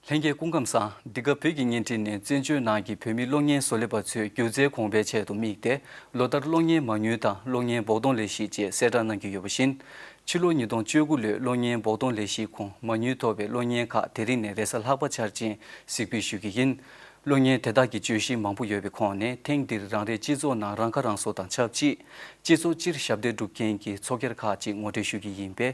ལྷན་རྒྱས་སྐུ་ཁམས་བཟང། འདི་ག་བོད་ཀྱི་བརྙན་འཕྲིན་ནས་བཙན་བྱོལ་ནང་གི་བོད་མི་གློག་བརྙན་བཟོ་ལས་པ་ཚོའི་སྒྱུ་རྩལ་གོང་འཕེལ་ཆེད་དུ་དམིགས་ཏེ་ལོ་ལྟར་གློག་བརྙན་མང་ཉུལ་དང་གློག་བརྙན་བོགས་གཏོང་ལས་གཞི་བཅས་གསལ་བསྒྲགས་གནང་གི་ཡོད་པ་བཞིན། ཕྱི་ལོ་ཉིས་སྟོང་བཅོ་དགུ་ལོའི་གློག་བརྙན་བོགས་གཏོང་ལས་གཞིའི་གོང་མ་ཉུལ་ཐོབ་པའི་གློག་བརྙན་ཁག་དེ་རིང་ནས་རེས་གཟའ་ལྷག་པ་འཆར་ཅན་གཟིགས་འབུལ་ཞུ་གི་ཡིན། གློག་བརྙན་དེ་དག་གི་བརྗོད་གཞི་མང་པོ་ཡོད་པའི་ཁོངས་ནས་ཐེངས་འདིར་རང་རེའི་སྤྱི་ཚོགས་ནང་རང་ཁ་རང་གསོ་དང་ཆབས་ཅིག་སྤྱི་ཚོགས་སྤྱིར་ཞབས་འདེགས་སྒྲུབ་མཁན་གྱི་ཚོགས་སྒེར་ཁག་ཅིག་ངོ་སྤྲོད་ཞུ་གི་ཡིན་པས།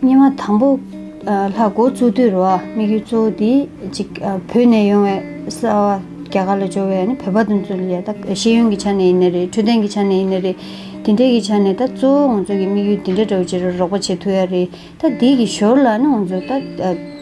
སྙེ་མ་དང་པོ། ལྷ་སྒོ་གཙུག་ཏུ་རུ་བ་དམིགས་ཡུལ་གཙོ་བོ་འདི་གཅིག། བོད་ནས་ཡོང་བའི་གསར་བ་རྒྱ་གར་ལ་འབྱོར་བས་ནི་བོད་པ་དང་མཚུངས་ལས་ད་ཤེས་ཡོན་གྱི་ཆ་ནས་ཡིན་ནི་རེད་འཕྲོད་བསྟེན་གྱི་ཆ་ནས་ཡིན་ནི་རེད། དེ་འདྲའི་གི་ཆ་ནས་ད་གཙོ་བོ་ང་ཚོ་གི་དམིགས་ཡུལ་འདི་འདྲ་འདྲ་བོ་བྱེད་རོགས་རོགས་པ་བྱེད་ཐུབ་ཡ་རེད་ད་འདི་གི་ཞོར་ལ་ནི་ང་ཚོ་ད་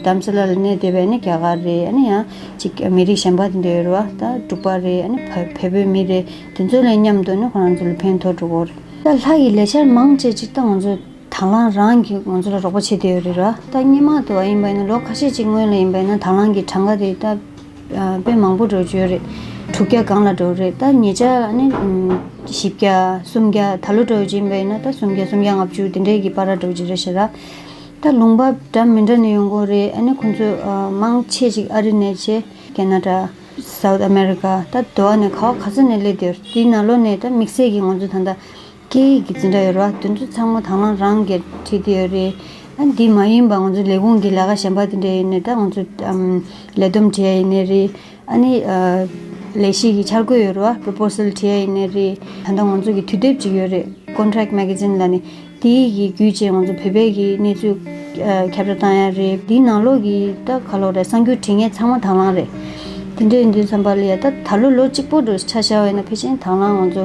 དམ་སེ་ལ་ལ་གནས་སྡོད་པས་ནི་རྒྱ་གར་རེད་ཨ་ནི་ཡང་གཅིག་མི་རིགས་གཞན་པ་དེ་འདྲ་ཡོད་རུ་བ་ད་འབྲུག་པ་རེད་ཨ་ནི་བལ་བོད་བོད་མི་རེད་དེ་ཚོ་ལས་མཉམ་དུ་ནི་ཁོ་རང་ཚོ་ལ་ཕན་ཐོགས་འགྲོ་གོ་རེད། ད་ལྷ་ཡི་ལས་འཆར་མང་བཅས་ཅིག་ད་ང་ཚོ། དང་བླངས་རང་གིས་ང་ཚོ་ལ་རོགས་པ་བྱེད་དེ་ཡོད་རེད་ར་ད་སྙན་མང་དུ་བ་ཡིན་པ་ཡིན་ན་ལོ་ཁ་ཤས་ཅིག་སྔོན་ལ་ཡིན་པ་ཡིན་ན་དང་བླངས་ཀྱི་གྲངས་ཀ་དེ་ད་དཔེ་མང་པོ་འགྲོ་བྱོས་རེད་དྲུག་བརྒྱ་སྒང་ལ་འགྲོ་རེད་ད་ཉེ་ཆར་ཨ་ནི་བཞི་བརྒྱ་གསུམ་བརྒྱ་ད་ལོ་འགྲོ་ཡོད་ཅིག་ཡིན་པ་ཡིན་ན་ད་སུམ་བརྒྱ་སུམ་བརྒྱ་ལྔ་བཅུ་དེ་འདྲའི་གི་པར་ར་འགྲོ་བྱེད་རེད་བཤད་ར་ད་ལུང་པ་འདྲ་མི་འདྲ་ནས་ཡོང་གོ་རེད་ཨ་ནི་ཁོང་ཚོ་མང་ཆེ་ཅིག་ཨ་རི་ནས་ཆེ་ཀེ་ན་ཏྲ South America ད་དེ་བ་ནས་ག་བ་ག་ས་ནས་སླེབས་དེ་ཡོད་རེད་དེའི་ན་ལོ་ནས་ད་དམིགས་བསལ་གྱི་ང་ཚོ་ད་ལྟ་སྐད་ཡིག་གི་འཛིན་གྲྭ་ཡོད་རེད་བ། དེ་ཚོ་ཚང་མ་དྭང་བླངས་རང་གིས་ཁྲིད་དེ་ཡོད་རེད། ཨ་འདི་མ་ཡིན་པ་ང་ཚོ་ལས་ཁུངས་ཀྱི་ལས་ཀ་གཞན་པ་དེ་འདྲ་ཡིན་ནི་ད་ང་ཚོ་ལས་བསྡོམས་བྲིས་ཡ་ཡིན་ནི་རེད། ཨ་ནི་ལས་གཞི་གི་འཆར་འགོད་ཡོད་རེད་བ Proposal བྲིས་ཡ་ཡིན་ནི་རེད། ད་ལྟ་ང་ཚོ་གི་དུས་དེབ་ཅིག་ཡོད་རེད Contract Magazine ལ་ནི་དེ་ཡི་གི་བརྒྱུད་བཅས་ང་ཚོ་བོད་པའི་གི་གནས་ཚུལ་ཁྱབ་བསྒྲགས་བཏང་ཡ་རེད། དེ་ནང་ལོགས་གི་ད་ག་ལོགས་རེད་གསང་རྒྱུ་བྲིས་ངས་ཚང་མ་དྭང་བླངས་རེད། དེ་འདྲ་ཡིན་དུས་བསམ་པ་ལ་ཡ་ད་ད་ལོ་ལོ་གཅིག་པོ་འགྲོ་ཆ་ཤ་བས་ན་ཕལ་ཆེན་དྭང་བླངས་ང་ཚོ་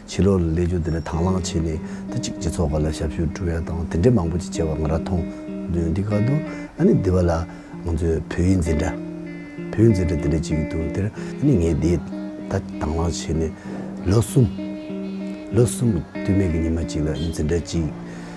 ཕྱི་ལོགས་ལ་ལས་ཆུང་དེ་འདྲ་དང་བླངས་བྱས་ནས་ད་ཅིག་སྤྱི་ཚོགས་ཁག་ལ་ཞབས་ཞུ་བསྒྲུབས་ཡ་དང་དེ་འདྲས་མང་པོ་ཅིག་བྱས་པ་ང་ར་མཐོང། དོན་འདི་ག་འདུག་ཨ་ནི་འདི་བ་ལ་ང་ཚོས་བོད་ཡིག་འཛིན་གྲྭ། བོད་ཡིག་འཛིན་གྲྭ་དེ་འདྲས་བྱེད་ཀྱི་འདུག་དེར་ཨ་ནི་ངས་དེ་ད་ཅིག་དང་བླངས་བྱས་ནས་ལོ་གསུམ། ལོ་གསུམ་དུས་མེད་ཀྱི་ཉི་མ་ཅིག་ལ་ཨ་ནི་འཛིན་གྲྭ་ཅིག་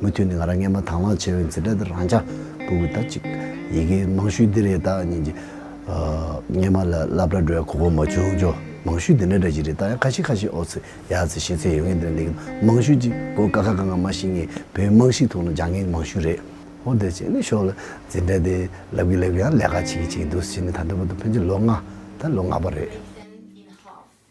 མུ་མཐུད་ནས་ང་རང་སྔས་མ་དྭངས་བླངས་བྱས་པའི་འཛིན་གྲྭ་འདིར་རང་ཅག་སྤུན་དགུས་ད་ཅིག་ཡི་གེའི་རྨང་ཤུལ་འདི་རེད་ད་སྙིང་རྗེ། སྔས་མ་ལ་བསླབ་གྲྭ་འགྲོ་ཡ་གོ་བོ་མ་བྱུང་ཆོག་རྨང་ཤུལ་འདི་འདྲ་འདྲ་ཞིག་རེད་ད་ཡང་ཁ་ཤིག་ཁ་ཤིག་ཨོ་ཚི་ཡ་ཚི་ཤེས་ཚད་ཡོད་ངེས་དོན་འདི་གི་རྨང་ཤུལ་གཅིག་གོ་དཀའ་ཁ་ག་ང་མ་ཤེས་ངེས་བོད་དམངས་ཤིག་ཐུག་ན་སྦྱང་ངེས་ཀྱི་རྨང་ཤུལ་རེད། ཧོ་དེ་བྱས་ནས་ཤོག་ལ་འཛིན་གྲྭ་འདི་བསླབ་གི་བསླབ་གི་ཡང་ལས་ཀ་བྱེད་གི་བྱེད་གི་འདུག་ཟེར་ནས་ད་འདོད་པ་དང་ཕན་ཚུན་ལོ་ལྔ་ད་ལོ་ལྔ་པ་རེད།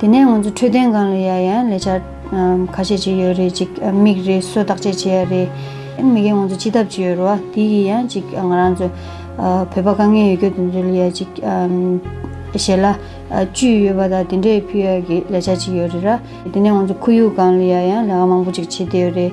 དེ་ནས་ང་ཚོ་འཕྲོད་བསྟེན་སྒང་ལ་ཡར་ཡང་ལས་འཆར་ཁ་ཤས་བྱེད་ཀྱི་ཡོད་རེད་ཅིག་མིག་རེ་གསོ་བརྟག་དཔྱད་བྱེད་ཡ་རེད། མི་རྒན་ང་ཚོ་སྤྱི་ཐབ་ཅིག་ཡོད་རུ་བ་དེ་ཡི་ཡང་ཅིག་ང་རང་ཚོ་བོད་པ་དཀའ་ངལ་ཡོད་སྐྱོ་དེ་ཚོ་ལ་ཡ་ཅིག་ཞལ་ལ་བཅུད་ཡོད་པ་དང་དེ་འདྲས་ཕུལ་ཡ་གི་ལས་འཆར་ཅིག་ཡོད་རེད་ར། དེ་ནས་ང་ཚོ་ཁོར་ཡུག་སྒང་ལ་ཡར་ཡང་ལས་ཀ་མང་པོ་ཅིག་བྱེད་བདེ་ཡོད་རེད།